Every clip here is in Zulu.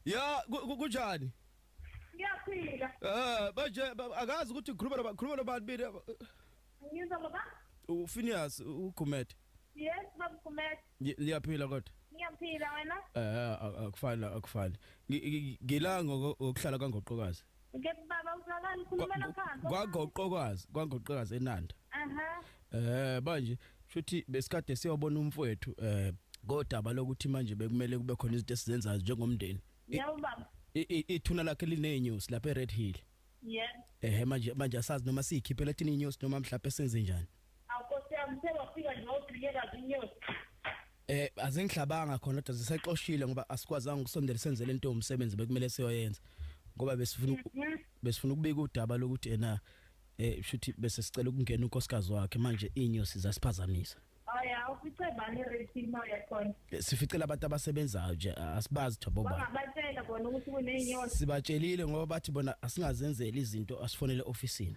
ya kunjani ngiyaphila eh manje akazi ukuthi ukhuluma noba khuluma nobani mina ngizwa baba ufinias ugumede yes baba gumede liyaphila kodwa ngiyaphila wena eh akufani akufani ngilanga ngokuhlala kangoqokazi Ngeke baba uzwakala ukhulumela phansi. Kwagoqokazi, kwagoqokazi eNanda. Aha. Eh manje futhi besikade siyobona umfowethu eh kodaba lokuthi manje bekumele kube khona izinto esizenzayo njengomndeni. Yebo baba. Ithuna lakhe linenews lapha eRed Hill. Yeah. Eh manje manje asazi noma siyikhiphe lathini inews noma mhlawumbe senze njani. Aw Nkosi yami sewafika nje wawudileka zinyosi. Eh azingihlabanga khona kodwa zisexoshile ngoba asikwazanga ukusondela senzele into umsebenzi bekumele siyoyenza ngoba besifuna uku- Mhm. besifuna ukubika udaba lokuthi ena eh shuthi bese sicela ukungena unkosikazi wakhe manje inyosi zasiphazamisa Hayi awufice bani rate imali yakhona. Eh, sificela abantu abasebenzayo nje asibazi thobo ba Bangabatshela bona ukuthi kuneyinyosi. sibatshelile ngoba bathi bona asingazenzeli izinto asifonele officeini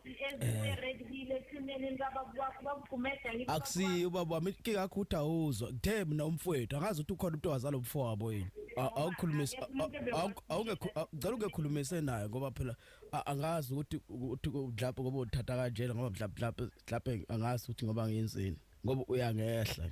akusiyo ubaba wami ke kakho ukuthi awuzwa kuthe mina umfowethu angazi ukuthi ukhona umuntu owazala umfo wabo yini awukhulumisi awungecela ungekhulumise naye ngoba phela angazi ukuthi ukuthi mhlawumbe ngoba uthatha kanjena ngoba mhlawumbe mhlawumbe angazi ukuthi ngoba ngiyenzeni ngoba uyangehla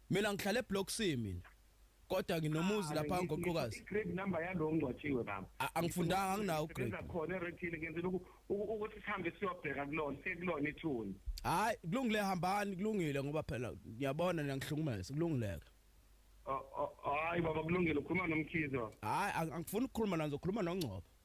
Mina ngihlala eBlock C mina. Kodwa nginomuzi lapha ah, ngoqokazi. Grade number yalo ngcwatshiwe baba. Angifundanga anginawo grade. Ngizakho khona eRetini ngenzela ukuthi sihambe siyobheka kulona, sekulona ithuni. Hayi, kulungile hambani, kulungile ngoba phela ngiyabona niyangihlukumeza, kulungileke. Hayi baba kulungile ukhuluma nomkhize baba. Hayi angifuni ukukhuluma nazo, ukhuluma nongcobo.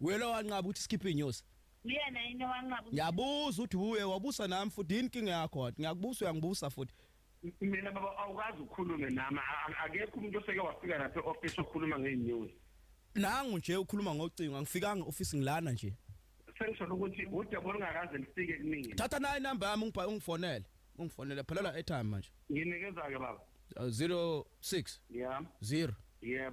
Welo wanqaba ukuthi sikhiphe inyosi. Uyena yini wanqaba? Ngiyabuza uthi uye wabusa nami futhi yini inkinga yakho wathi ngiyakubusa uyangibusa futhi. Mina baba awukazi ukhulume nami akekho umuntu oseke wafika lapha eoffice okhuluma ngenews. Nangu nje ukhuluma ngocingo angifikanga office ngilana nje. Sengisho ukuthi udaba olungakaze lifike kumina. Thatha nayi number yami ungibha ungifonele. Ungifonele phelela airtime manje. Nginikeza ke baba. 06 uh, yeah 0 yebo yeah.